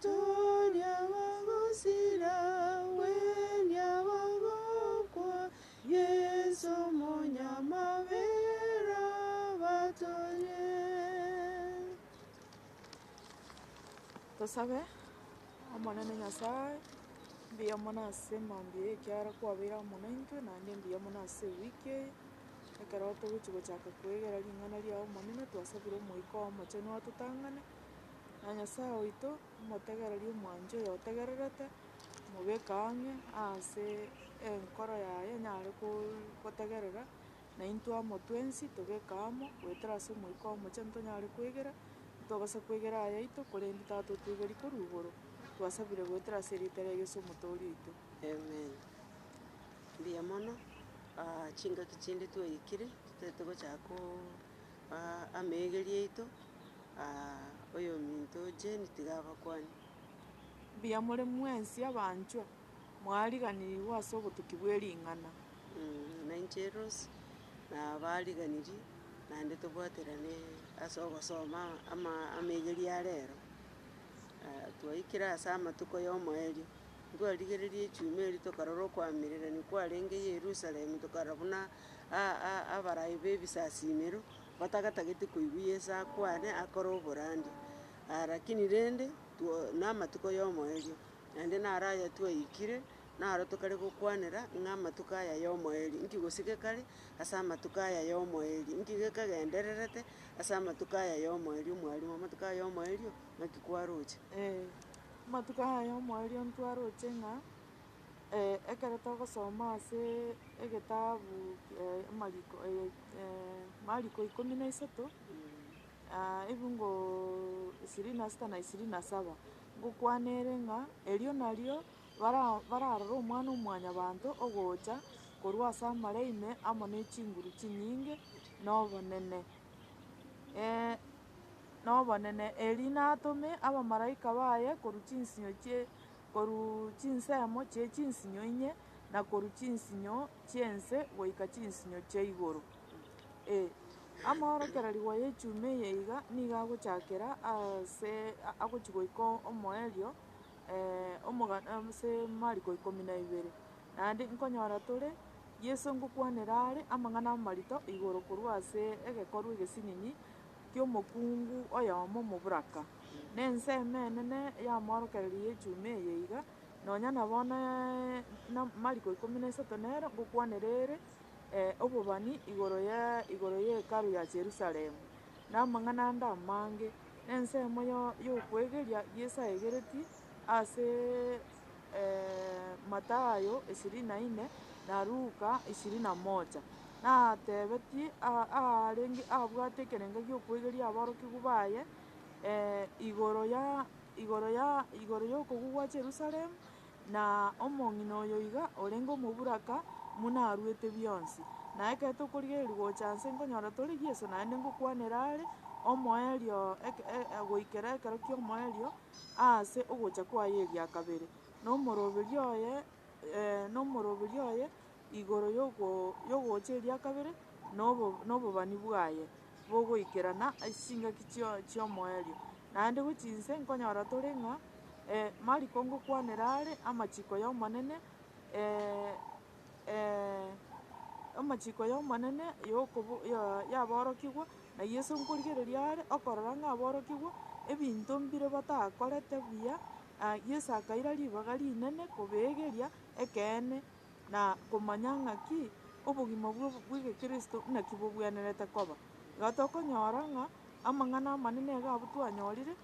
Toria bagosira, gweria bagokwa, Yeso Omonyamabera abatorie. Tosabe. Omonene Nyasae, mbuya mono ase mambia eye ekiagera kwabeire amo naintwe, naende mbuya mono ase ewiki eye, ekero togochi gochaka kwegera ring'ana riao Omonene, twasabire Omoika oo Omochenu atotang'ane, na Nyasae oito, omotegereria omwancha oyo otegererete, omobeke ang'e aase enkoro yaye enyare koo- gotegerera, na intwe amo twensi tobeke amo, goetera ase Omoika Omochie ntonyare kwegera, ntobasa kwegera aya aito, korende Tata otwegerie korwa igoro, twasabire goetera ase erieta ria Yeso Omotoori oito. Amen. Mbuya mono, chingaki chinde twaikire, totaete gochaka ko. Aa ameegeria aito, aa oyominto Jane tiga abakwane. Mbuya more mwensi abanchwa, mwariganirigwe ase obotuki bwe ring'ana. Na inche Rose, nabariganirie, naende tobwaterane ase ogosoma ama ameegeria a rero. Aa twaikire ase amatuko y'omoerio, ntwarigereria echuma erio tokarora okoamererania kwarenge Yerusalemu, tokarora buna. abarai b'ebisasimero batagatageti koigwa Yeso akwane akore oborandia. Lakini rende, namatuko y'omoerio, naende naro aya twaikire, naro tokare gokwanera ng'a amatuko aya y'omoerio. Inki gose gekare ase amatuko aya y'omoerio? Inki gekagendererete ase amatuko aya y'omoerio, mwarimwa, amatuko aya y'omoerio ng'aki kwaroche? Ee, amatuko aya y'omoerio ntwaroche ng'a Ekero togosoma ase egetabu Amariko Mariko ikomi na isato, ebiungo ishirini na sita na ishirini na saba, ngokwana ere ng'a erio nario bara bararore Omwana-o-mwanyabanto ogocha korwa ase amare ime amo ne chinguru chinyinge na obonene, na obonene, erio natome abamalaika baye korwa chinsinyo chie. Korwa chinsemo chie chinsinyo inye, na korwa chinsinyo chi'ense goika chinsinyo chia igoro, ee, amaorokererigwa y'echuma eye iga nigo agochakera aase agochi goika omoerio omogano ase Mariko ikomi na ibere. Naende nkonyora tore Yeso ngokwanera are amang'ana amarito igoro korwa ase egekorwa egesinini ki'omokungu oyomo moburaka, na ense emenene y'amaorokererio y'echuma eye iga, nonya na bono na mariko ikomi na isato nero ngokwanera ere obobani igoro ye igoro ye Hekalu ya Jerusalem, na amang'ana ande amange, na ensemo yo y'okwegeria giesaigeretie ase. Matayo ishirini na ine, na Luka ishirini na moja. Natebetie aarenge abwate ekerengo gi'okwegeria aborokigwa baye igoro y'okogwa gwa Yerusalemu, na omong'ina oyo iga orenge omoburaka buna aruete bionsi. Na ekero tokorigereria gocha inse nkonyora tore Yeso, naende ngokwanera are, omoerio goikera ekero ki'omoerio. aase ogocha kwaye eria kabere, na omoroberio oye, ee, na omoroberio oye igoro y'ogo y'ogocha eria kabere, na obo na obobani bwaye bogoikerana ase chingaki chio chi'omoerio. Naende gochia inse nkonyora tore ng'a Mariko ngokwanera are amachiko y'Omonene, ee. Amachiko y'Omonene y'okobo ya yaborokigwa, na Yeso nkorigereria are, okorora ng'a aborokigwe, ebinto mbire batakorete buya, na Yeso akaira ribaga rinene kobeegeria ekeene, na komanya ng'aki obogima bwo bw'egekristo naki bobwenerete koba. Igo tokonyora ng'a amang'ana amanene iga abwo twanyorire.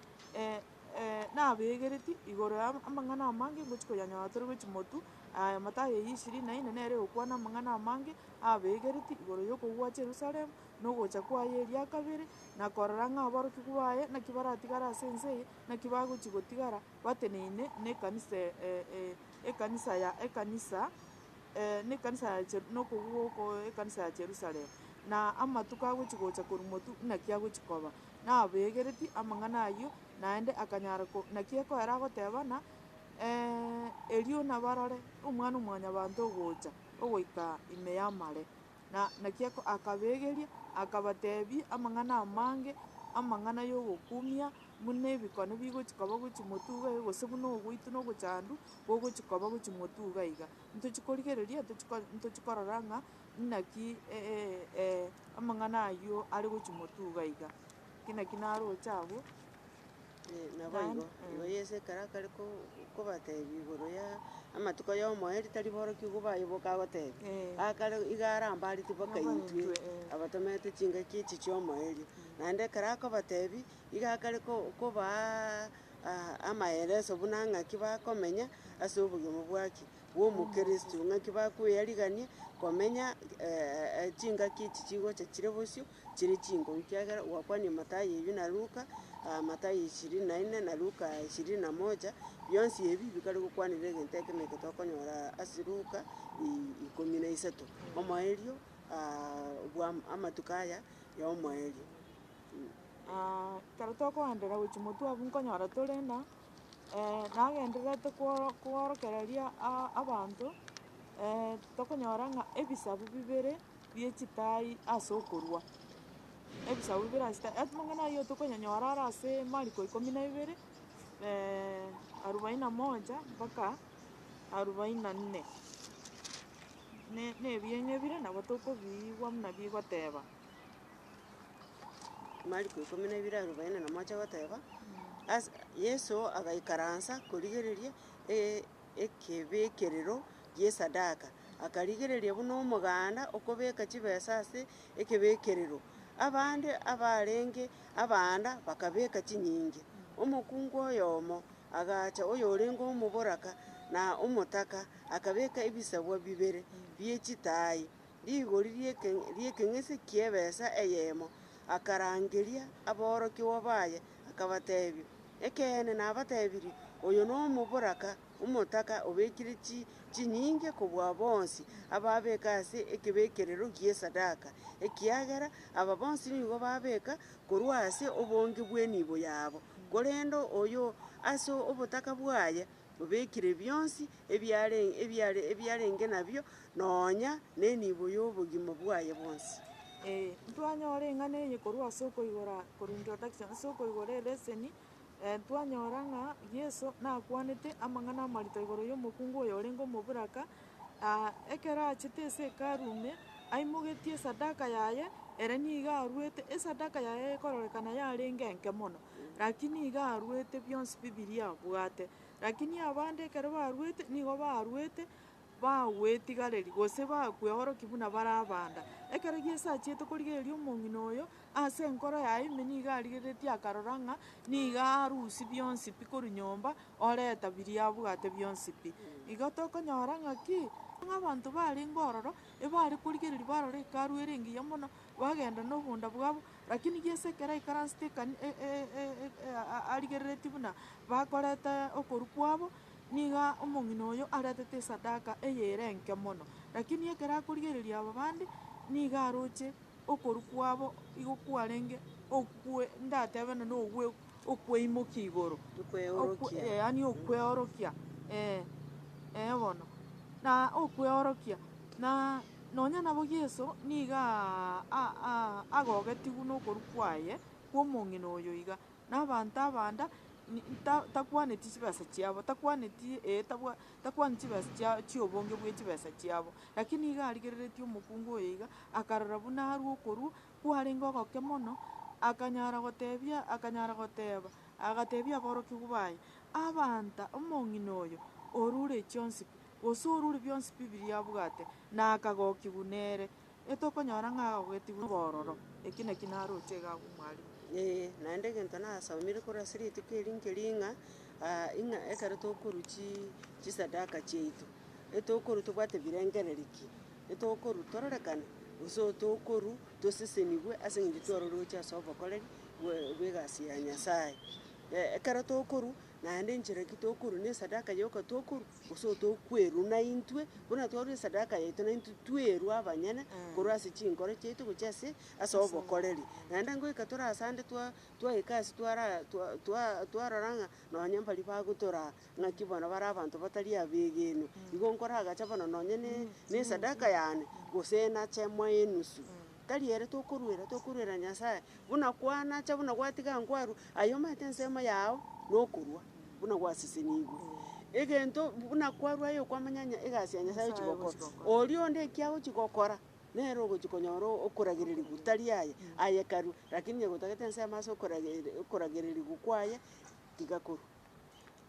nabeegereti igoro ya amang'ana amange ngochia koyanyora tore gochia Motu, aye Mathayo eyio ishirini na ine nere egokwana amang'ana amange abeegereti igoro y'okogwa Yerusalemu, na ogocha kwaye eria kabere, na korora ng'a aborokigwa baye naki baratigare ase ense eye, naki bagochia gotigara bateneine nekanisa ekanisa ya ekanisa nekanisa ya Jeru nokogwa oko ekanisa ya Jerusalemu. Na amatuko agochia gocha korwa Motu naki agochia koba. nabeegereti amang'ana ayio, naende akanyara ko naki ekoera agoteba ng'a, Erio nabarore Omwana-o-mwanyabanto ogocha ogoika ime y'amare. Na naki eko akabeegeria, akabateebia amang'ana amange, amang'ana y'ogokumia, buna ebikone bigochia koba gwe chimotuga iga, gose buna ogoitwa nogochandu, bogochia koba gwe chimotuga iga. Ntochia korigereria, ntochia ko ntochia korora ng'a Inaki, ee, ee, ee, amang'ana ayio are gochia motuga iga, ki naki naroche agwo, Ee, naboigo. Naende, Igo mm. Yeso ekero akare ko- kobatebia igoro ya amatuko y'omoyo rita riborokigwe igo baiboka agotebia, Eh. Akare iga arambareti boka Boka intwe, intwe, eh. abatomerete chingaki echi chi'omoerio. Naende ekero akobatebia, iga akare ko- kobaa a- amaeleso buna ng'aki bakomenya ase obogima bwaki. bw'Omokristo, ng'aki bakweyarigania komenya chingaki echi chigocha chire bosio chire chinguru, ekiagera gwakwanire Mathayo eyio na Luka, Mathayo ishirini na ine na Luka ishirini na moja, bionsi ebi bikare gokwanera egento ekemo eke tokonyora ase Luka ikomi na isato, omoerio bwa amatuko aya ya omoerio. Ekero tokogenda gochia motwe abwo nkonyora tore na. nagendererete kworo- kworokereria a- abanto, tokonyora ng'a ebisaku bibere bie chitaai ase okorua, ebisaku bibere ase chitaai, amang'ana ayio tokonyanyora are ase mariko ikomi na ibere arubaini na moja mpaka arubaini na nne. Ne- nebieng'ebire nabo tokobiigwa buna bigoteba. Mariko ikomi na ibere arobaini na mocha goteba, Ase Yeso agaikaransa korigereria e- ekebekerero gi'esadaka, akarigereria buna omoganda okobeka chibesa ase ekebekerero. Abande abarenge abanda bakabeka chinyinge. Omokungu oyomo agacha oyorenge omoboraka na omotaka, akabeka ebisabwa bibere bie chitaai Rigori ri'ekeng'ese ki'ebesa eyemo, akarangeria aborokigwa baye, akabatebia, Ekeene nabatebirie, oyo nomoboraka omotaka obekire chinyinge kobua bonsi ababeka ase ekebekerero gi'esadaka, ekiagera aba bonsi nigo babeka korwa ase obonge bw'enibo yabo, korende oyo ase obotaka bwaye obekire bionsi ebiarenge nabio Nonya nenibo y'obogima bwaye bwonsi. Ee, ntwanyora eng'ana eye korwa ase okoigora korwa introduction ase okoigora eleseni, twanyora ng'a Yeso nakwanete amang'ana amarito igoro yomokungu oyo orenge omoburaka, ekero achete ase hekalu ime, aimogetie esadaka yaye, ere nigo arwete, esadaka yaye egokororekana yarenge enke mono, rakini nigo arwete bionsi bibiria abwate. Rakini abande ekero barwete, nigo barwete bagwetigareri, gose bakweorokia buna bare abanda. Ekero Yeso achiete korigereria omong'ina oyo, ase enkoro yaye ime nigo arigereretie akarora ng'a nigo arusia bionsi pi korwa nyomba, oreta biria abwate bionsi pi. Igo tokonyora ng'aki? Ng'a abanto barenge ororo, ebare korigereria barore Hekalu ere engiya mono, bagenda nobonda bwabo, lakini Yeso ekero aikaransete ekani e- e- e- e- a- a- arigereretie buna bakoreta okorwa kwabo, Nigo omong'ina oyo aretete esadaka eye ere enke mono, lakini ekero akorigereria aba bande, nigo aroche okorwa kwabo igo kwarenge okwe, ndatebe nonya ogwe okweimokia igoro, okwe, eh, yaani okweorokia, eh, eh bono. Na okweorokia, na nonya nabo Yeso niga a- a- a- agogetigwe nokorwa kwaye kw'omong'ina oyo iga. Na abanto abande nta, takwaneti chibesa chiabo, takwaneti, ee, tabwa, takwaneti chibesa chia, chiobonge bwe chibesa chiabo. Lakini nigo arigereretie omokungu oyo iga, akarora buna arwe okorua, kwarenge ogoke mono, akanyara gotebia, akanyara goteba, agatebia aborokigwa baye, Abanta, omong'ina oyo orure chionsi pi, gose orure bionsi pi biria abwate, na akagokigwa nere. etokonyora ng'a agogetigwa nobororo, eki naki naroche iga agwo omwalimu. Ee, naende egento nasomire korwa ase rituko eri nkeri ng'a, ing'a ekero tokorwa chi chisadaka chiaito, etokorwa tobwate ebirengererio ki, etokorwa tororekane, gose otokorwa tosesenigwe ase eng'encho twaroroche ase obokoreri bwe bw'egasi ya Nyasaye. Ekero tokorwa naende enchera ki tokorwa na esadaka yoka tokorwa. Gose otokwerwa naintwe, buna twarwa esadaka yaito naintwe twerwa abanyene korwa ase chinkoro chiaito gochia ase ase obokoreri. Naende ngoika tore ase ande twa twaika ase twara twa twa twarora ng'a nonye mbari bagotoraa ng'aki bono bare abanto batari abegenwa. Igo nkoragacha bono nonye ne nesadaka yane, gose nache moenusu. Tari ere tokoruera, tokoruera Nyasae, buna kwanacha, buna gwatiga nkwarwa, aye omanyete ensemo yao nokorwa, buna gwasesenigwe. Egento buna kwarwa aye okwamanya nya- egasi ya Nyasae ochi gokora, oria onde eki agochi gokora, nere ogochi konyora o- okoragererigwa tari aye, aye karue, rakini onye gotagete ensemo ase okorageri- okoragererigwa kwaye, tiga korwa.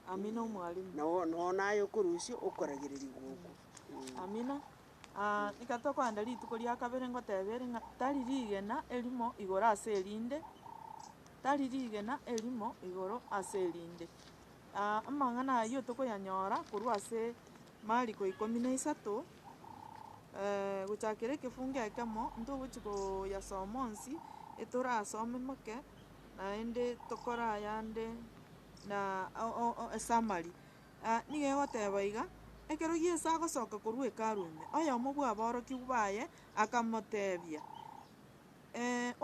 Amina omwalimu. Nao- nao naye okorusia okoragererigwa okwo, eeh. Amina. Aa, iga tokoenda rituko ria kabere ngoteeba ere ng'a tari rigena erimo igoro ase erinde, tari rigena erimo igoro ase erinde. Aa, amang'ana ayio tokoyanyora korwa ase Mariko ikomi na isato, gochakera ekefungo ekemo, ntogochi koyasoma onsi, etorasome moke, naende tokorayande na o- o- o esummary. Aa nigo egoteba iga, Ekero Yeso agosoka korwa Hekalu ime, oyomo bw'aborokigwa baye akamotebia,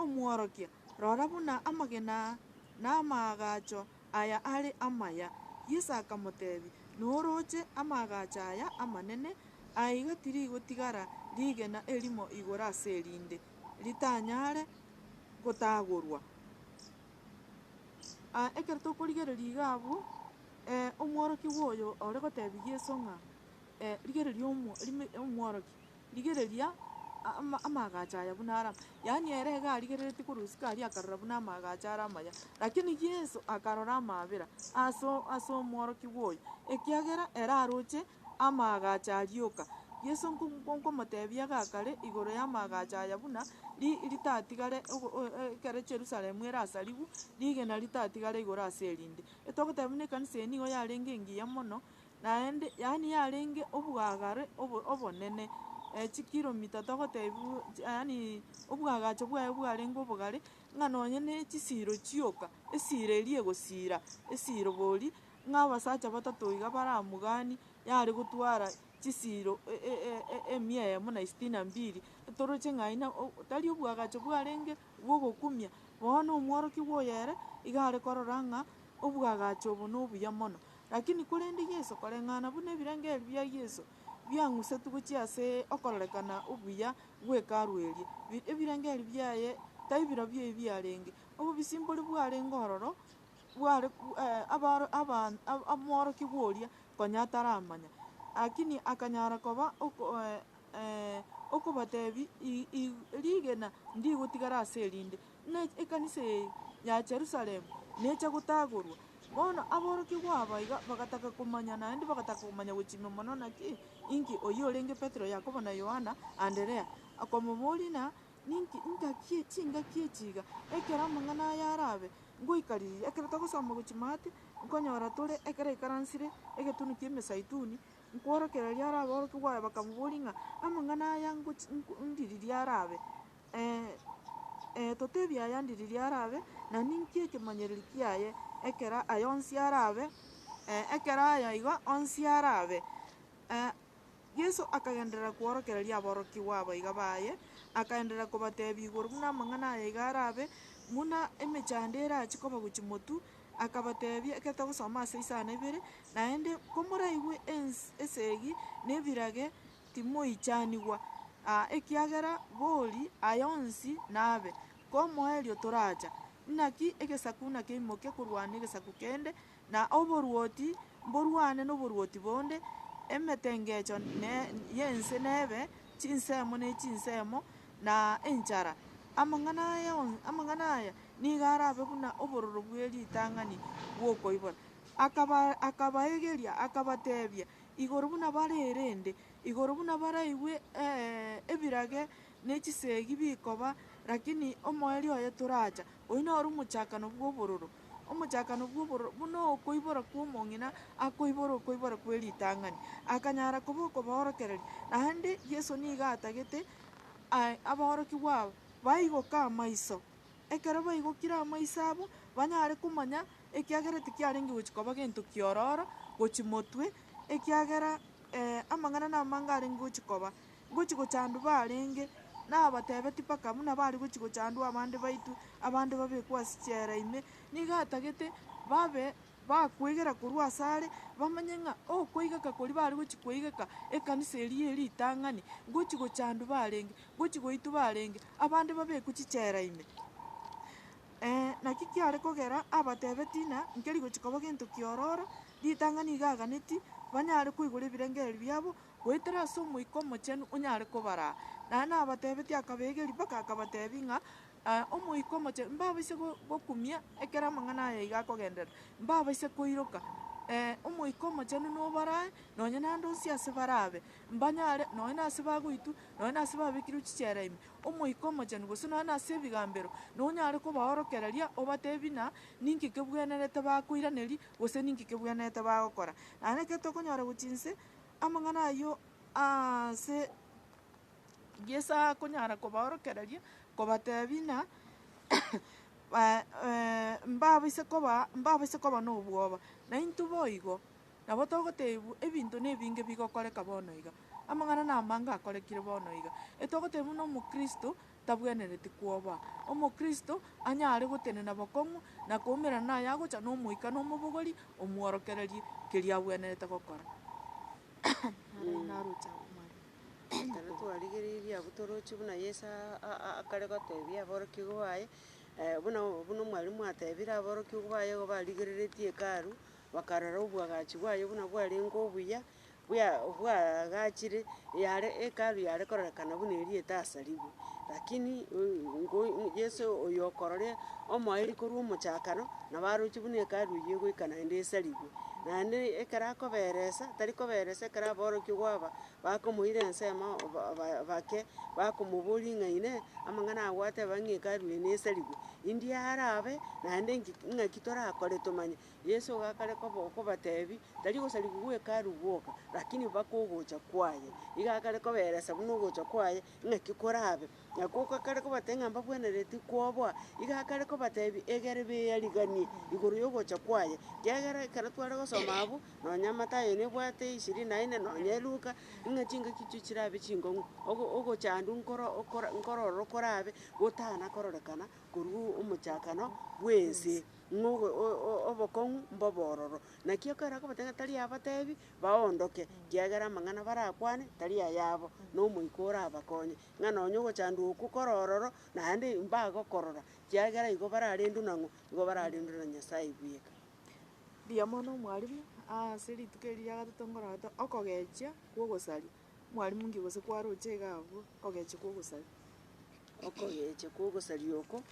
Omworokia, rora buna amagena na amaagacho aya are amaya. Yeso akamotebia, Noroche amaagacho aya amanene? Aiga tirigotigara rigena erimo igoro ase erinde, ritanyare gotagorwa. Aa ekero tokorigereria iga abwo. Omworokigwa oyo ore goteebia Yeso ng'a, Rigereria Omworokia, rigereria amaagacho aya buna are amaya. Yaani ere iga arigereretie korwa isiko aria akarora buna amaagacho are amaya. Lakini Yeso akarora amaabera ase omworokigwa oyo, ekiagera ere aroche amaagacho aria oka. Yeso nkomoteebia igaa kare igoro y'amaagacho aya buna ritatigare ekero Yerusalemu erasarigwe, rigena ritatigare igoro ase erinde. Etogoteba buna ekanisa eye nigo yarenge engiya mono, naende, yaani yarenge obwagare obo obonene, eh, chikiromita togotebia bu chi yaani obwagacho bwaye bwarenge obogare, ng'a nonye ne chisiiro chioka, esiiro eria egosiira esiiro bori, ng'a abasacha batato iga baramoganie, yare gotwara chisiiro e- e- e- emia eyemo na isitini na mbili, etoroche ng'a aye na o tari obwagacho bwarenge. bw'ogokumia, bono omworokigwa oyo ere iga are korora ng'a obwagacho obo nobuya mono. Lakini korende Yeso, koreng'ana buna ebirengererio bia Yeso biang'usetwe gochia ase okororekana obuya gw'Hekalu eria, ebirengererio biaye taibirobio ebi biarenge. Obobisimbori bwarenge ororo bware omworokigwa oria konya ataramanya, lakini akanyara koba ee, okobatebi, I, I, rigena ndigotigara ase erinde, ne ekanisa eye ya Yerusalemu necha gotagorwa. Bono aborokigwa aba iga bagataka komanya, naende bagataka komanya gochimia mono naki, inki oyio orenge Petero, Yakobo, na Yohana, Anderea, akomoboria ng'a, Ninki, ingaki, chingaki echi iga? Ekero amang'ana aya arabe, ngoikaririe, ekero togosoma gochia maate, nkonyora tore ekero aikaransire egetuni ki'emesaituni, Nkworokereria arabe orokia gwaye bakamoboria ng'a amang'ana aya ngochi ndiriria arabe? Ee, ee, totebie aya ndiriria arabe, na ninki ekemanyererio kiaye ekero aya onsi arabe? Ee, ekero aya igo onsi arabe. Ee, Yeso akagenderera kworokereria aborokigwa abaiga baye, akaenderera kobatebia igoro buna amang'ana aya iga arabe, buna emechando erache koba gochi motu, Akabateebia, Ekete gosoma ase isano ibere, naende komoraigwe esegi nebirage timoichanigwa, aa, ekiagera bori aya onsi nabe. Komoerio toracha, inaki egesaku nakeimoke korwana negesaku kende, na oborwoti mborwane noborwoti bonde, emetengecho y'ense nebe chinsemo ne chinsemo, na enchara. Amang'ana aya onsi, amang'ana aya nigo arabe buna obororo bwe ritang'ani bw'okoibora. Akaba, akabaegeria, akabatebia, Igoro buna bare erende, igoro buna baraigwe eh, ebirage ne chisegi bikoba, lakini omoerio oye toracha. Oyio noro omochakano bw'obororo, omochakano bw'obororo, buna okoibora kw'omong'ina akoibora okoibora kwe ritang'ani, akanyara koba okobaorokereria. Naende Yeso nigo atagete. Aye aborokigwa aba baigoke amaiso. Ekero baigokire amaiso abo, banyare komanya, ekiagera tikiarenge gochia koba gento ki'ororo gochia motwe, ekiagera amang'ana namange arenge gochia koba. Ngochia gochandwa barenge, nabatebetie mpaka buna bare gochia gochandwa abande baitwe, abande babekwe ase chiela ime, nigo atagete babe. bakwegera korwa asare, bamanye ng'a okoigeka koria bare gochia koigeka ekanisa eria ye ritang'ani, gochia gochandwa barenge, gochia goitwa barenge, abande babekwe chichera ime. Ee, naki kiare kogera abatebe tina nkeri gochia koba gento kiororo, ritang'ani iga aganeti, banyare koigora ebirengererio biabo, goetera ase Omoika Omochenu onyare kobaraa. Naende nabatebetie akabeegeria mpaka akabatebia ng'a Aa, Omoika Omochenu, mbaboisie gokumia ekero amang'ana aya iga akogenderera, mbaboisie koiroka. Ee, Omoika Omochenu noborae, nonya naende onsi ase barabe, mbanyare, nonya nase bagoitwa, nonya nase babekirwe chichera ime, Omoika Omochenu, gose nonya nase ebigambero, nonyare kobaorokereria, obateebie ng'a ninki kebwenerete bakoiraneria, gose ninki kebwenerete bagokora. Naende ekero tokonyora gochia inse, amang'ana ayio aase. Yeso akonyara kobaorokereria, kobateebia ng'a mbaboise koba mbaboise koba nobwoba, naintwe boigo, nabo togotebiwa ebinto na ebinge bigokoreka bono iga, amang'ana na amange akorekire bono iga. Etogotebiwa buna omokristo tabwenereti kwoba, omokristo anyare gotenena bokong'u na koumerana na aye agocha na omoika na omobogori omworokererie keria abwenerete gokora. Ekero twarigereirie abwo toroche buna Yeso akare gotebia aborokigwa baye, buna buna omwarimu atebire aborokigwa baye igo barigereretie Hekalu, bakarora obwagachi bwaye buna bwarenge obuya, bwa bwagachire, yare Hekalu yare kororekana buna eria etasarigwe. Lakini ngoi Yeso oyo okorora omoerio korwa omochakano, nabo aroche buna Hekalu eyio egoika naende esarigwe. Naende ekero akoberesa, tari koberesa ekero aborokigwa aba. bakomoira ensemo bake, bakomoboria ng'a inee, amang'ana aya gwateba ng'a Hekalu eye nesarigwe, indie arabe, naende nki ng'aki torakore tomanye. Yeso iga akare koba okobatebia, tari ogosarigwa gwa Hekalu gwoka, rakini mpaka ogocha kwaye. Iga akare kobaeresa buna ogocha kwaye ng'aki korabe. Nakwo gakare kobatebia ng'a mbabwenereti kwoboa, iga akare kobatebia egere beyariganie igoro y'ogocha kwaye. Kiagera ekero tware gosoma abwo, nonya Matayo nebwate ishirini na ine, nonya Luka, ng'a chingaki chio chirabe chingong'u, ogo ogochandwa nkoro okora nkororo korabe gotana kororekana korwa omochakano bw'ense, ng'a ogo o- o- obokong'u mbobe ororo. Naki ekero akobatebia ng'a tari abatebi, baondoke, kiagera amang'ana barakwane tari ayabo, na Omoika orabakonye. ng'a nonya ogochandwa okwo kore ororo, naende mbagokorora, ekiagera igo bararendwe na ng'o? Igo bararendwe na Nyasae bweka. Mbuya mono mwalimu, ase rituko eri ria gatato nkoragete okogechia kwa ogosaria. Mwalimu nki gose kwaroche iga abwo, okogechia kwa ogosaria? Okogechia kwa ogosaria oko,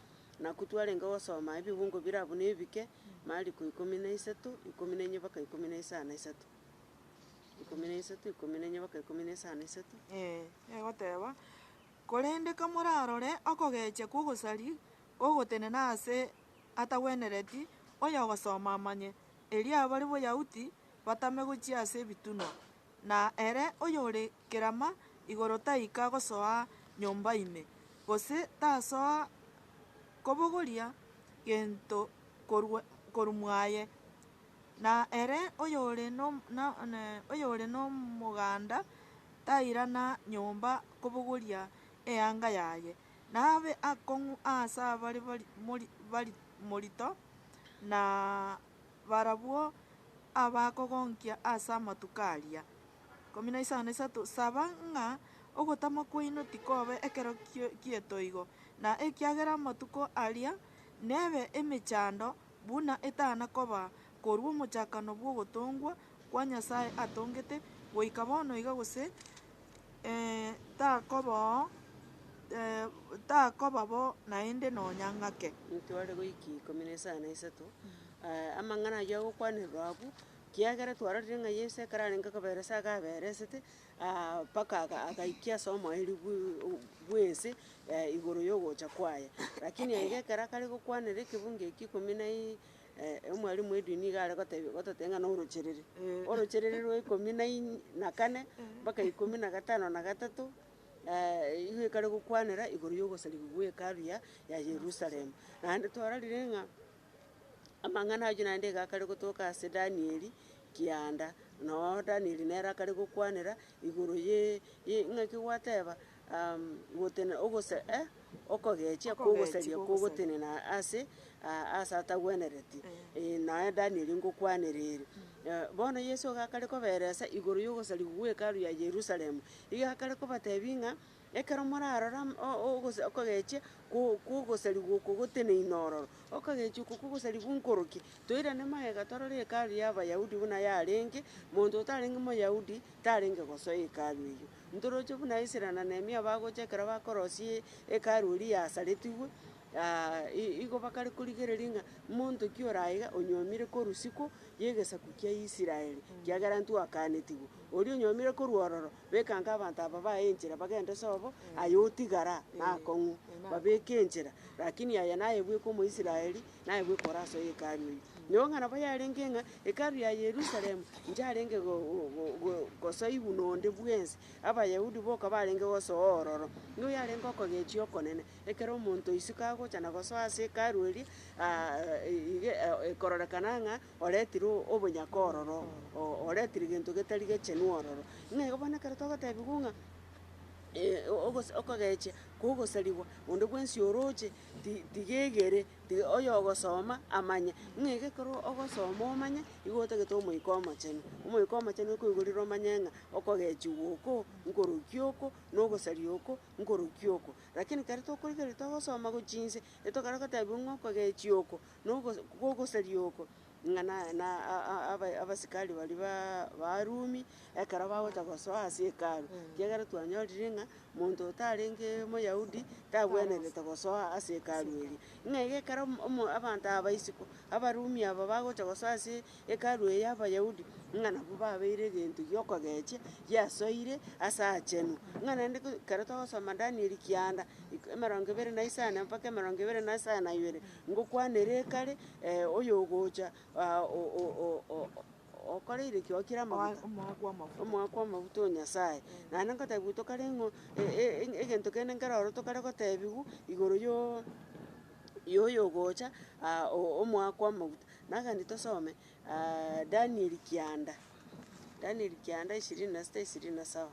nakwo twarenge gosoma ebebungo bire abwo na ebike, Mariko ikomi na isato, ikomi na enye mpaka ikomi na isano na isato. Ikomi na isato, ikomi na enye, mpaka ikomi na isano na isato. Ee, egoteba, Korende kamorarore okogecha kw'ogosari ogotenena aase atagwenereti oyogosoma amanye, erio abare Boyahudi batame gochia ase ebitunwa, na ere oyore kerama igoro taika gosoa nyomba ime, gose tasoa kobogoria gento korwa korwa mwaye. Na ere oyore nomoganda tairana nyomba kobogoria eanga yaye, na abe akong'u as'abare morito, na barabwo abakogonkia as'amatuko aria. 15:3 Saba ng'a ogotama kwaino tikobe ekero gietoigo, na ekiagera amatuko aria nebe emechando Buna etana koba korwa omochakano bw'ogotongwa kwa Nyasae atongete goika bono iga gose, ee, takobao, ee, takoba bo naende nonya ng'ake. Ntware goika ikomi na isano na isato aa amang'ana ayio agokwanerwa abwo, kiagera twarorire ng'a Yeso ekero arenge koberesa agaberesete, mpaka agaikia ase omoerio bw'ense igoro y'ogocha kwaye. Rakini aiga ekero akare gokwanera ekebungo ekio ikomi na omwalimu bw'edini nigo are gotebia gototebia ng'a norocherere. Orocherere rwa ikomi na na kane mpaka ikomi na gatano na gatato nigo ekare gokwanera igoro y'ogosarigwa gwa hekalu ya Yerusalemu. Naende twarorire ng'a. Amang'ana ayio naende iga akare gotoka ase Danieli kianda, na oo Danieli nere akare gokwanera igoro ye ye ng'aki gwateba gotena ogose okogechia kwa ogosaria kwa ogotenena ase ase atagwenereti, eh naye Danieli ngokwanera ere. Bono Yeso iga akare koberesa igoro ya ogosariwa gwa Hekalu ya Yerusalemu, iga akare kobatebia ng'a. Ekero morarore am, o, o, ogose, okogechia kwo, kw'ogosarigwa oko goteneine ororo, okogechia oko kw'ogosarigwa onkorokie, toirane magega torore Hekalu y'Abayahudi buna yarenge, monto otarenge Moyahudi tarenge gosoa Hekalu eyio. Ntoroche buna Esira na Nehemia bagocha ekero bakorosia e- Hekalu eria yasaretigwe, aa, i- igo bakare korigereria ng'a monto ki ore aiga onyomire korwa isiko y'egesaku kia Israel, kiagera ntwakanetigwe. Oria onyomire korwa ororo Bekange abanto aba baye enchera bagende sobo, aye otigara nakong'u, babeke enchera, lakini aye naye bweka Omoisraeli, naye bweka ore aso y'Hekalu eye. Nyoo ng'a nabo yarenge ng'a Hekalu ya Yerusalemu inche arenge go- go- go- gosoigwa nonde bwensi, Abayahudi boka barenge gosoa ororo, nigo yarenge okogechia okonene, ekero omonto isiko agocha na gosoa ase Hekalu eria, iga e- e- ekororekana ng'a Oretire obonyaka ororo, oretire gento getari gechenu ororo. Ng'a igo bono ekero togotebigwa ng'a okogechia kogosarigwa onde bwensi oroche, ti- tigegere, tiga oyogosoma amanye. Ng'a iga ekero ogosoma omanye, igo otagete Omoika Omochenu. Omoika Omochenu okoigorera omanye ng'a okogechiwa oko nkoroki oko, na ogosaria oko nkoroki oko. Lakini kare tokorigereria togosoma gochia inse, etogare gotebiwa ng'a okogechia oko nogosaria oko, ng'a na abasikari baria ba Abarumi ekero bagocha gosoa ase Hekalu, ekiagera twanyorire ng'a monto otarenge Omoyahudi tagwenerete gosoa ase Hekalu eria. Ng'a iga ekero omo- abanto aba isiko, Abarumi aba bagocha gosoa ase Hekalu eye ya Abayahudi, ng'a nabo babeire egento gi'okogechia giasoire ase aachenu. Ng'a naende ekero twagosoma Danieli kianda, emerongo ebere na isano mpaka emerongo ebere na isano na ibere, Ngokwanera ekare, ee, oyogocha, aa, o, o, o, o, o, okoreire ki? Okire amaguta, Omoa kw'amafuta. omoa kw'amafuta o Nyasae. Naende ngotebiwa tokare ng'o e- e- e- egento kende nkero oro tokare gotebiwa igoro yo y'oyogocha, aa, o- omoa kw'amaguta. Nagende tosome, aa, Daniel kianda, Daniel kianda ishirini na sita ishirini na saba.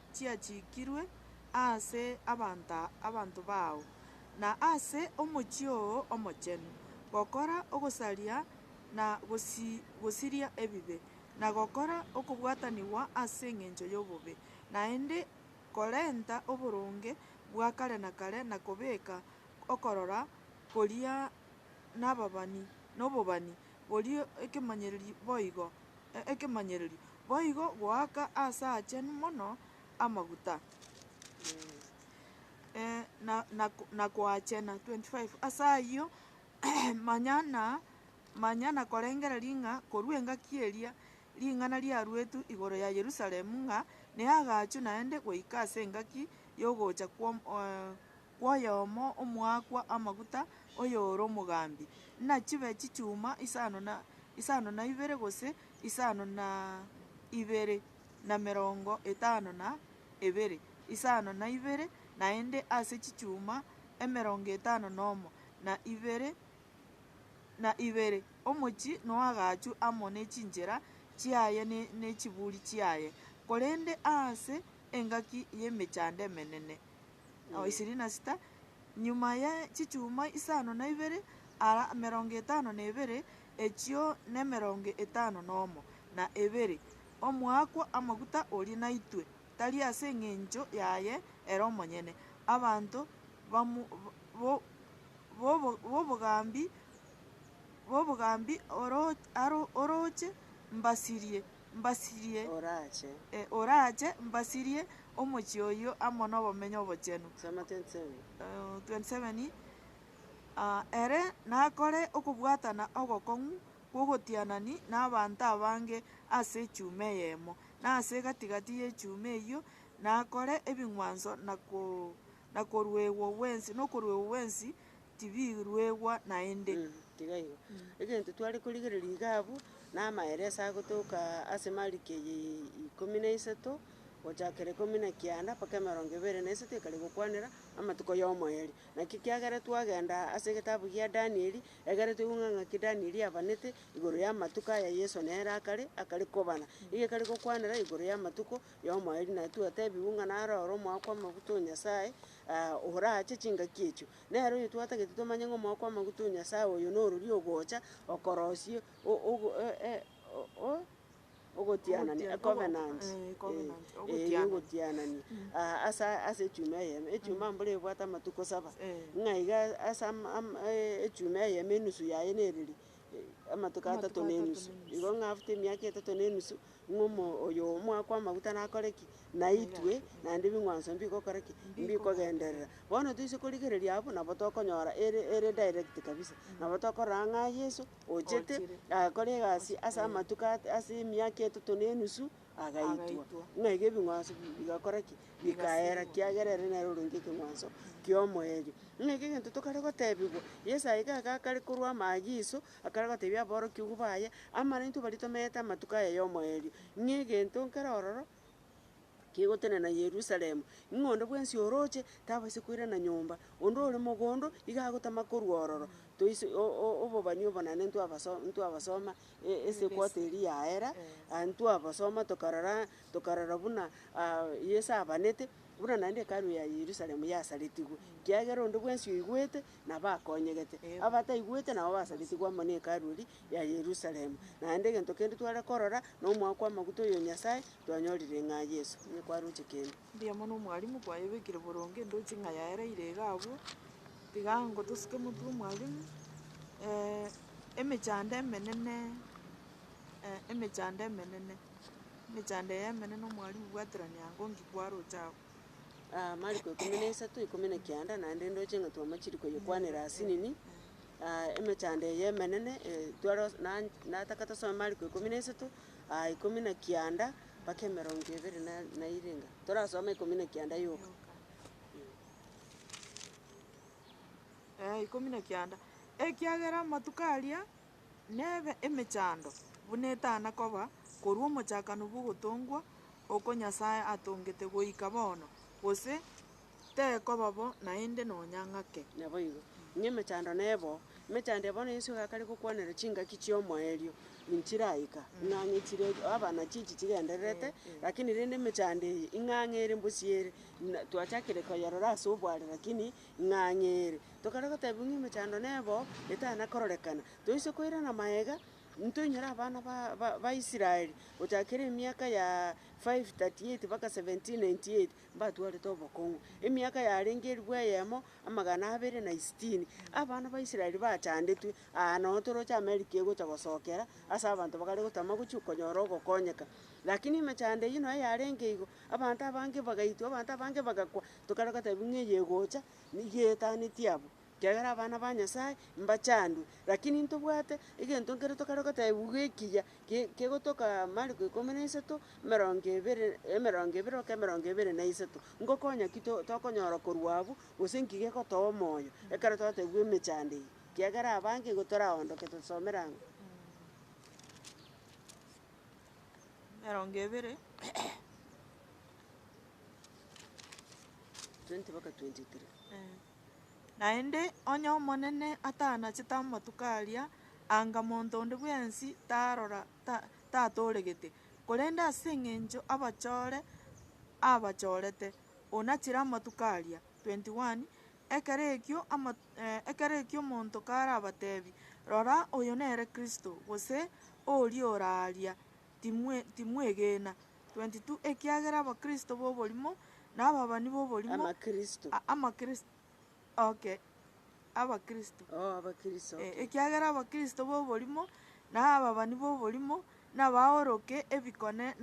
chiachiikirwe aase abanto abanto bao, na aase omochie oo omochenu, gokora ogosaria na gosiria ebibe, na gokora okobwatanigwa ase engencho y'obobe, naende korenta oboronge bwa kare na kare na kobeka okorora koria nababani nobobani boria ekemanyererio boigo ekemanyererio, boigo goaka aase aachenu mono amaguta, na koachena. 25 Ase ayio, manya na korengereria ng'a korwa engaki eria ring'ana riaruetwe igoro ya Yerusalemu ng'a neagaachwe naende goika ase engaki y'ogocha kw'Omonene. kw'oyomo omoakwa amaguta, oyore omogambi, nachibe chichuma isano na isano na ibere gose isano na ibere na emerongo etano na ebere, isano na ibere naende ase chichuma emerongo etano nomo na ibere na ibere, omochie noagachwe amo ne chinchera chiaye ne ne chiburi chiaye, korende aase engaki y'emechando emenene. Ao ishirini na sita, nyuma ye chichuma isano na ibere, ara emerongo etano na ebere, echio nemerongo etano nomo na ebere, omoakwa amaguta oria naitwe, tari ase engencho yaye ere omonyene, abanto bamu bo bobo bobogambi bobogambi oro aro oroche mbasirie. mbasirie, e, oraache mbasirie omochie oyio amo nobomenyo obochenu, 27 ah, ere nakore okobwatana ogokong'u kw'ogotianani nabaanto abange ase echuma eyemo, na ase egati gati y'echuma eyio nakore ebing'wanso na ko na koruegwa gwensi nokoruegwa gwensi tibiruegwa naende. Tiga igo. Egento tware korigereria iga abwo, namaeresa agotoka ase mariko eye ikomi na isato, gochakera ikomi na kianda mpaka emerongo ebere na isato ekare gokwanera amatuko y'omoerio. Naki kiagera twagenda ase egetabu gia Danieli, egere toigwe ng'aki Danieli abanete igoro y'amatuko aya Yeso nere akare akare kobana. Igo ekare gokwanera igoro y'amatuko y'omoerio, na twatebigwe ng'a naro ore omoa kw'amaguta o Nyasae, orache chingaki echio. Nere oyio twatagete tomanye ng'a omoyo kw'amaguta o Nyasae oyo norori ogocha okorosia ogotianania, a covenant, eh, eh, ogotianania, aa ase ase echuma eyemo. Echuma mbuna ebwate amatuko saba, ng'a iga a- ase ama- ama echuma eyemo enusu yaye nereri amatuko atato na enusu. Igo ng'a after emiaka etato na enusu. Ng'umwa oyo omoakwa amaguta nakore ki? Naitwe naende bing'wanso mbigokora ki? Mbikogenderera. Bono toise korigereria abwo nabo tokonyora ere ere direct kabisa. Nabo tokorora ng'a Yeso ochete, agakora egasi ase amatuko at- ase emiaka etato na enusu, agaitwa. Ng'a iga ebing'wanso bi- bigakora ki? Bikaera kiagera ere nere orenge ekeng'wanso ki'omoerio. Ng'a iga egento tokare gotebigwa, Yeso aiga iga akare korwa amaagiso, Akarega gotebia aborokigwa baye, Amang'ana intwe baria tomeete amatuko aya y'omoerio, ng'a egento nkere ororo kegotenena Yerusalemu, ng'a onde bwensi oroche tabaisa koirana nyomba, onde ore mogondo iga agotama korwa ororo, toise o- o- obobani obonene ntwabaso ntwabasoma e- esekwato eria yaera, aye ntwabasoma tokarora tokarora buna Yeso abanete, buna naende Hekalu ya Yerusalemu yasaretigwe, kiagera onde bwensi oigwete nabakonyegete. Abataigwete nabo basagetigwe amo n'Hekalu eria ya Yerusalemu. Naende egento kende tware korora nomoa kw'amaguta oyo Nyasae twanyorire ng'a Yeso nigo kwaroche kende. Mbuya mono omwalimu, kwayebekire boronge ndoche ng'a yaereire iga abwo. Tiga ngotosuke motwe omwalimu, emechando emenene, emechando emenene, emechando eye emenene omwalimu bwaterania ango ngikwaroche abwo. Mariko ikomi na isato, ikomi na kianda, naende ndoche ng'a twamachiri koyekwanera ase nini, emechando eye emenene, tware gose nan- nataka tosome mariko ikomi na isato, ikomi na kianda, mpaka emerongo ebere na na ere iga. Torasome ikomi na kianda yoka. Ikomi na kianda, ekiagera amatuko aria. Nebe emechando buna etana koba korwa omochakano bw'ogotongwa oko Nyasae atongete goika bono, gose tekoba bo naende nonya ng'ake. Naboigo, ng'emechando nebo, emechando eye bono Yeso egakare gokwanera chingaki chi'omoerio nchiraika, ing'ang'e chire abana chichi chigendererete, lakini rende emechando eye ing'ang'e ere mbosio ere, na twachakire koyerora ase obware, lakini ng'ang'ere, tokare gotebigwa ng'a emechando nebooo, etana kororekana, toise koirana magega, ntoinyore abana ba- ba- baisrael, gochakera emiaka ya five thirty eight mpaka seventeen ninety eight, mbatwarete obokong'u, emiaka yarenge elfu eyemo, amagana abere na esitini, abana ba israel bachandetwe, aa nonye toroche amerika egocha gosokera ase abanto bakare gotama gochia konyora ogokonyeka. Lakini emechando eyio nonya yarenge igo, abanto abange bagaitwa, abanto abange bagakwa, Tokarora gatebi ng'a eye egocha nigo etaneti abwo, kiagera abana ba Nyasaye mbachandwe. Rakini ntobwate egento nkere tokare gotebiwa iga ekiya ge- gegotoka Mariko ikomi na isato, emerongo ebere emerongo ebere mpaka emerongo ebere na isato. Ngokonya ki to- tokonyora korwa abwo, gose nki gegotoa omoyo ekero twatebiwa emechando eye? Kiagera abange igo toraondoke tosomera ang'o? emerongo ebere. Naende onye Omonene atanachete amatuko aria, anga monto onde bwensi tarora, tatooregete, korende ase eng'encho abachore abachorete, onachire amatuko aria. 21 Ekero ekio ekero ekio omonto karabateebie, Rora, oyo nere Kristo, gose, Oria oraaria, timwegena. 22 ekiagera abakristo b'oborimo na ababani b'oborimo, nabaoroke ebikone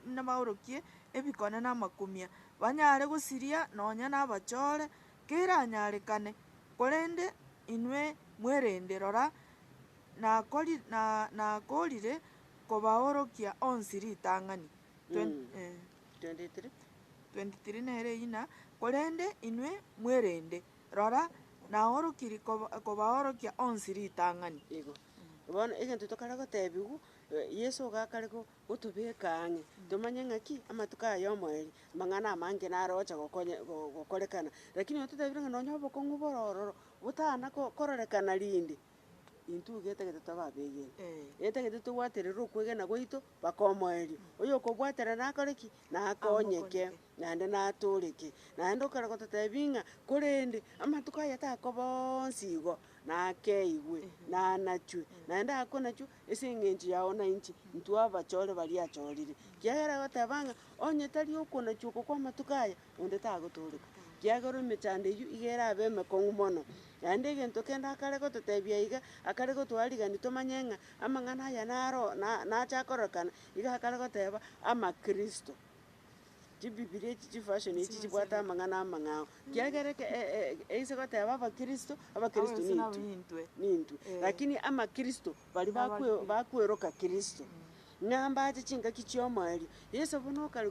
nabaorokie ebikone na amakumia, banyare gosiria nonya nabachore, keranyarekane. Korende inwe mwerende, rora, nakorire kobaorokia onsi ritang'ani. 23 nere eyina, korende inwe mwerende, rora, naorokiri kobaorokia onsi ritang'ani. Igo. Bono egento tokare gotebiwa, Yeso iga akare gotobeka ang'e, tomanye ng'aki amatuko aya omoerio, amang'ana amange naro ogocha gokonya gokorekana. Rakini ototebire ng'a nonye obokong'u bore ororo botana kororekana rinde. Intwe iga etagete tobe abegeni, etagete tobwaterere okwegena gwaito mpaka omoerio. Oyokobwatera nakore ki? Nakonyeke, naende natoreke. Naende okare gototebia ng'a korende amatuko aya takoba onsi igo, nakeigwe, nanachwe, naende akonachwa ase eng'encho yao na inche, intwe abachore baria achorire. Ekiagera agoteba ng'a onye tari okonachwa oko kw'amatuko aya, onde tagotooreka, kiagera emechando eyio iga erabe emekong'u mono. Naende egento kende akare gototebia iga, akare gotoa rigani tomanye ng'a amang'ana aya naro na- nacha kororekana, iga akare goteba, Amakristo. Chibibilia echi chifasioni echi chibwate amang'ana amang'ao, kiagera eke- e- e- eise goteba abakristo, abakristo nintwe, nintwe, lakini amakristo baria bakwe- bakweroka kristo. Ng'a mbache chingaki chi'omoerio. Yeso buna okare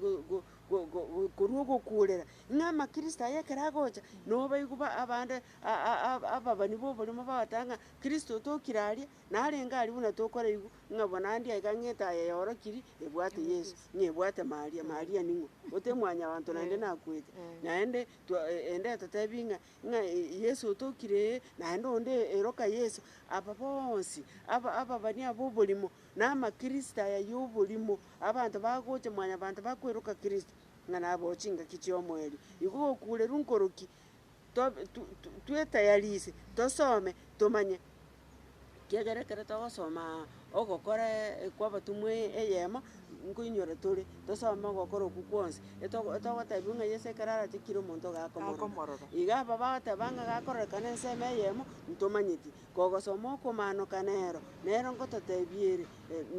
korwa ogokuurera, ng'a amakristo aye ekero agocha, nabo baigwe abande ababani b'oborimo bagoteeba ng'a kristo otokire aria, narenge aria buna tokoraigwa, ng'a bonande aye iga ng'ete aye yaorokiri ebwate Yeso, ng'a ebwate Maria. Maria ning'o? Ote mwanyabanto naende nakwete. Naende twa ende etotebi ng'a Ng'a Yeso otokire ee, naende onde ee, iroka Yeso. Aba bonsi aba ababani aba oborimo, na amakristo aya y'oborimo, abanto bagocha mwanyabanto bakweroka Kristo, ng'a naboo chingaki chi'omoerio. Igo gokuurerwa nkoroki, tobe tu- tu- twetayarisie, tosome, tomanye. Ekiagera ekero togosoma ogokora kw'abatomwa eyemo, nkoinyora tore, tosome ogokora okwo kwonsi, etogo etogotebiwa ng'a Yeso ekero arache kira omonto iga akomorora. Akomorora. Iga aba bagoteba ng'a gakororekana ensemo eyemo, ntomanyeti. Kogosoma okomaanoka nero, nero nkototebia ere,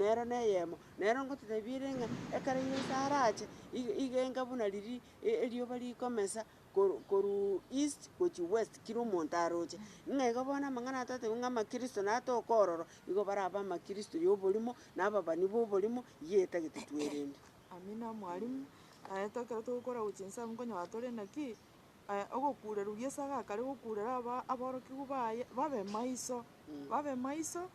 nero na eyemo. Nero nkototebia ere ng'a ekero Yeso arache, iga iga enga buna riria e- erioba rikomesa, korwa east gochia west kera omonto aroche. Ng'a iga bono amang'ana aya twatebia ng'a amakristo naye atoke ororo, igo barabe amakristo ya oborimo, na ababani ba oborimo, eyio etagete twerende. Amina mwalimu, aye to ekero togokora gochia inse abwo nkonyora tore naki, ogokureru Yeso agakare gokurera aba aborokigwa baye babe maiso, babe maiso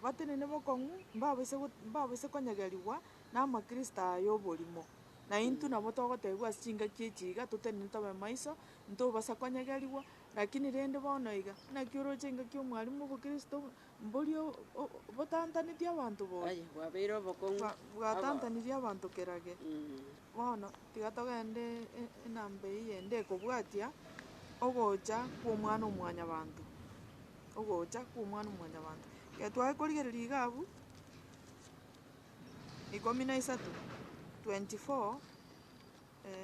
batenene bokong'u, mbabaise go mbabaise konyegerigwa na amakristo aya ya oborimo. Na intwe nabo togotebiwa ase chingaki echi iga, totenene tobe maiso, ntobasa konyegerigwa. Lakini rende bono iga, naki oroche engaki y'omwarimu bw'Kristo, mbori o- o- botantaneti abanto boria, Aye, bwabeire obokong'u bwa- abo. bwatantaneti abanto kera ge. Mm. Bono tiga togende e- enamba eyio ende ekobwatia ogocha kw'Omwana-o-mwanyabanto, ogocha kw'Omwana-o-mwanyabanto. Ekero tware korigereria iga abwo. ikomi na isato, 24,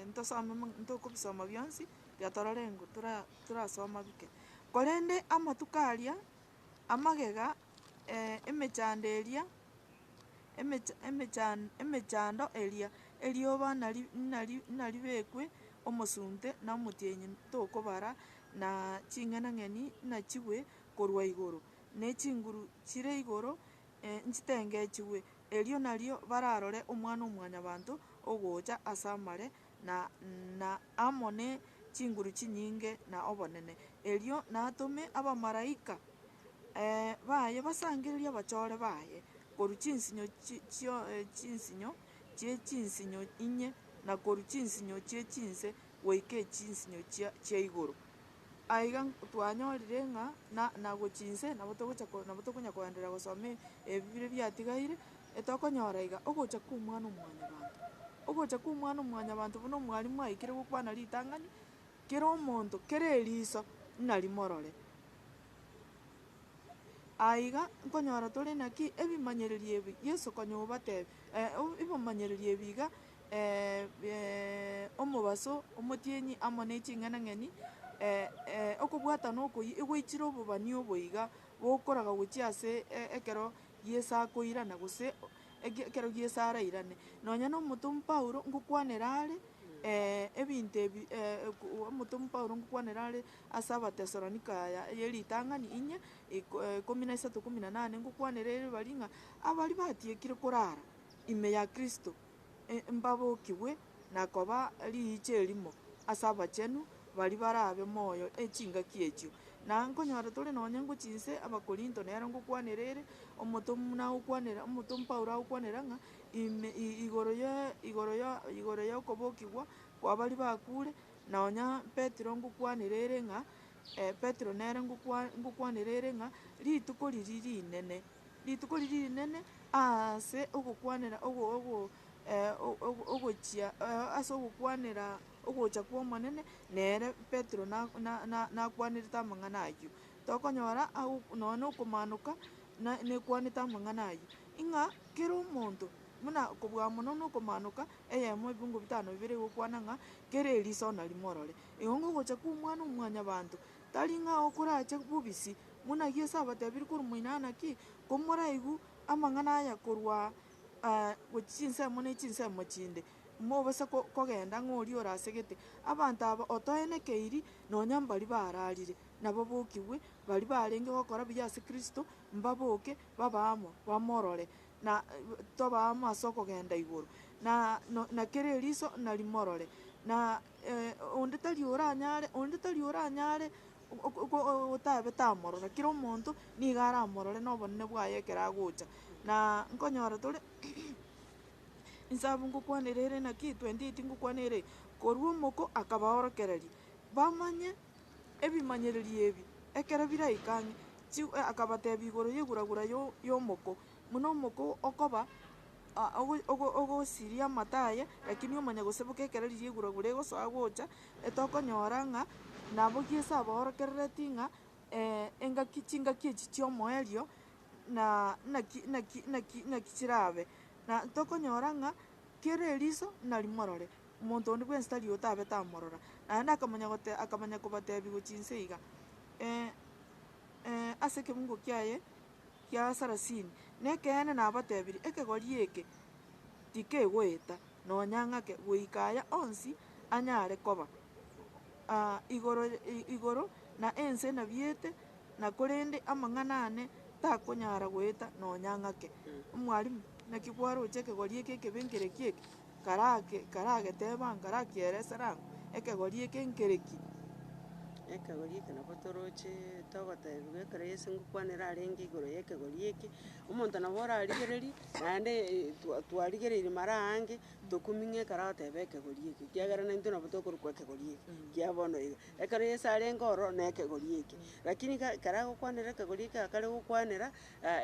ntosome mo ntokobisoma bionsi, tiga torore engo tora torasoma bike. Korende amatuko aria, amagega emechando eria emecha emechan emechando eria, erioba nari nari naribekwe omosunte na omotienyi tokobara, na ching'enang'eni nachigwe korwa igoro, ne chinguru chire igoro. nchitengechigwe, erio nario bararore Omwana-o-mwanyabanto ogocha as'amare, na amo ne chinguru chinyinge na obonene. Erio natome abamalaika baye basangererie abachore baye korwa chinsinyo chie chinsinyo inye, na korwa chinsinyo chie chinse goika echinsinyo chia igoro. Aiga twanyorire ng'a na nagochia inse nabo togocha ko nabo tokonya koenderera gosoma ebi bire biatigaire, etokonyora iga ogocha kw'Omwana-o-mwanyabanto. Ogocha kw'Omwana-o-mwanyabanto buna omwalimu aikire gokwana ritang'ani, kera omonto kera eriso narimorore. Aiga nkonyora tore naki ebimanyererio ebi Yeso konya obatebia obi ebimanyereri ebi iga omobaso, omotienyi, amo ne ching'enang'eni, okobwatana okoyia egwaichire obobani obo iga bokoraga gochia ase ekero Yeso akoirana gose ekero Yeso arairane. Nonya na omotomwa Paulo ngokwanera are ebinto ebi omotomwa Paulo ngokwanera are ase Abatesalonika aya eye ritang'ani inye ikomi na isato ikomi na nane, ngokwanera ere baria ng'a, abari batiekire korara ime ya Kristo. mbabokigwe na koba riicho erimo ase abachenu baria barabe moyo e chingaki echio. Na nkonyora tore nonya ngochia inse Abakorinto nero ngokwanera ere, omotomwa agokwanera, omotomwa Paulo agokwanera ng'a ime igoro ye igoro ya igoro y'okobokigwa kwa baria bakure, nonya Petero ngokwanera ere ng'a Petero nere ngokwa ngokwanera ere ng'a rituko riria rinene. Rituko riria rinene aase ogokwanera ogo ogo ogochia ase ogokwanera ogocha kw'Omonene, nere Petero na na nakwanerete amang'ana ayio. Tokonyora ago nonye na okomanoka na nekwanete amang'ana ayio, ing'a kera omonto buna kobua mono na okomanoka, eyemo ebingo bitano bibere egokwana ng'a kera eriso narimorore. Igo ngogocha kw'Omwana-o-mwanyabanto Tari ng'a okorache bobisi buna Yeso abatebirie korwa moino aa naki komoraigu amang'ana aya korwa aa gochia chinsemo ne chinsemo chinde, mobase kogenda ng'a oria orasegete abanto aba otoene keiri nonya mbaria bararire nababokigwe, baria barenge gokora buya ase Kristo mbaboke babe amo, bamorore na tobe amo ase okogenda igoro, na kera eriso narimorore. onde tari oranyare, onde tari oranyare otabete amorora, kera omonto nigo aramorore na obonene bwaye ekero agocha. Na nkonyora tore inse abwo ngokwanera ere naki twenty eight ngokwana ere, korwa omoko akabaorokereria, bamanye ebimanyererio ebi ekero biraika ang'e, chi akabatebia igoro y'eguragura ya omoko. Buna omoko okoba ogosiria amato aye, lakini omanya goseboka ekero riria eguragu regosoa gocha, etokonyora ng'a nabogie ase abaorokerereti ng'a engaki chingaki echi chi'omoerio na naki naki naki naki chirabe. Na tokonyora ng'a kera eriso narimorore, omonto onde bwensi tari otabe tamorora. Naende akamanya gote akamanya kobatebia gochia inse iga, ase ekebungo kiaye gia sarasini, nekeene nabatebirie, ekegori eke tikegoeta nonya ng'ake, goika aya onsi anyare koba, igoro, igoro na ense nabiete, na korende amang'ana ane takonyara goeta nonya ng'ake. Omwalimu, naki bwaroche ekegori eke ekebe nkere ki'eke? karake karageteba nkarakielesa rang'o, ekegori eke nkere ki? Ekegori eke nabo toroche togotebigwa ekero Yeso ngokwanera arenge igoro y'ekegori eke, omonto nabo orarigereria, naende eh twa- twarigereiri mara aange, tokuming'a ekero agoteba ekegori eke, ekiagera naintwe nabo tokorokwa ekegori eke, ekiya bono iga. Ekero Yeso arenge ororo na ekegori eke, rakini ka- ekero agokwanera ekegori eke akare gokwanera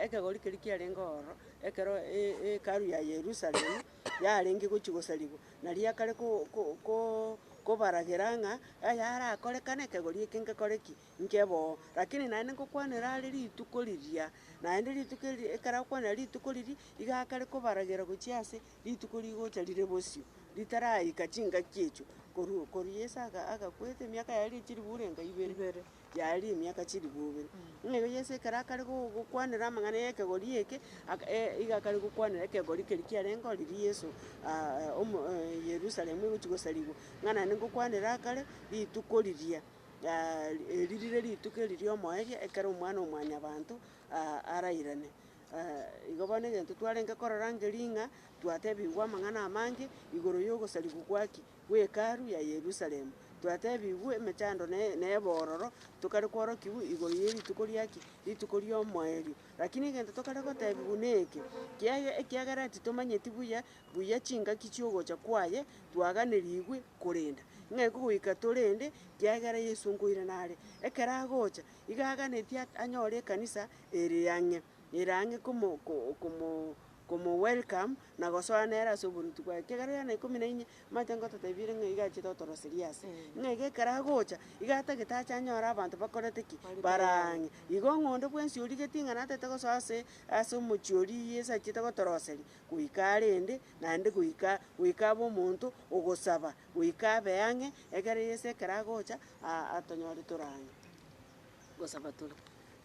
ekegori keria kiarenge ororo, ekero e- e- ekaru ya Yerusalemu. yarenge gochia gosarigwa, na riakare ko- ko- ko- kobaragera ng'a ayarakorekane ekegori eke ngekore ki? Nkebe oo. Rakini naende ngokwanera are rituko riria, naende rituko eri ekero akwanera rituko riria, iga akare kobaragera gochia ase rituko rigocha rire bosio, ritaraika chingaki echio, korwa korwa Yeso aga- agakwete emiaka yaye ere chiribure ngai ibere. yaria emiaka chilifu ibere. Buna igo Yeso ekero akare go- gokwanera amang'ana y'ekegori eke, aka e- iga akare gokwanera ekegori keria kiarenge ororo Yeso omo Yerusalemu egochia gosarigwa, ng'a naende ngokwanera akare rituko riria eri rire rituko eri ri'omoerio ekero Omwana-o-mwanyabanto arairane. Igo bono egento twarenge korora nkerig'o ng'a twatebigwa amang'ana amange igoro y'ogosarigwa gwa ki? bw'Hekalu ya Yerusalemu, twatebigwe emechando na ebororo, tokare kworokigwa igoro ye rituko ri'aki? Rituko ri'omoerio. Lakini egento tokare gotebigwa neke, ekiagera titomanyeti buya buya chingaki chi'ogocha kwaye, twaganerigwe korenda ng'ai kogoika torende, ekiagera Yesu nkoirana are. Ekero agocha, igo aganetie anyore ekanisa ere ang'e, ere ang'e komo. komo welcome na gosoa nere ase oboruoti bwaye. Ekegera giane ikomi na inye, manyete ngototebirie ng'a iga achete otoroseria ase, ng'a iga ekero agocha, iga atagete ache anyore abanto bakorete ki? Barang'e. Igo ng'a onde bwensi origetie ng'a natete gosoa ase ase omochie oria iyee ase achiete gotoroseria, goika arende, naende goika goika abe omonto ogosaba, goika abe ang'e, ekero yese ekero agocha, aa atonyore tore ang'e. gosaba tore.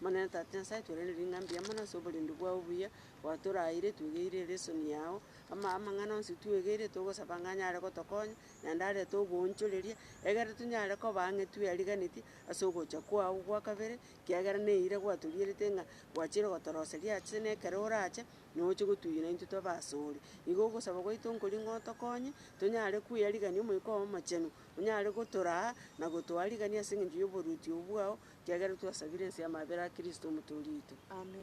Omonene Tata Nyasae, twerende ring'ana mbuya mono ase oborendi bwao obuya, gwatoraeire twegeire ere esoni yao, ama amang'ana onsi twegeire togosaba ng'a anyare gotokonya, naende arete oboonchoreria, egere tonyare koba ang'e tweriganetie ase ogocha kwao gwa kabere, kiagera na eira gwatorierete ng'a gwachire gotoroseria ache na ekero orache, na oche gotunyana intwe tobe asore. Igo ogosaba gwaito nkori ng'a otokonye, tonyare kweyarigania Omoika oo Omochenu, Onyare gotoraa na gotoa rigania ase engencho y'oboruoti obo bwao, ekiagera twasabire ense y'amabera a Kristo Omotoori oito. Amen.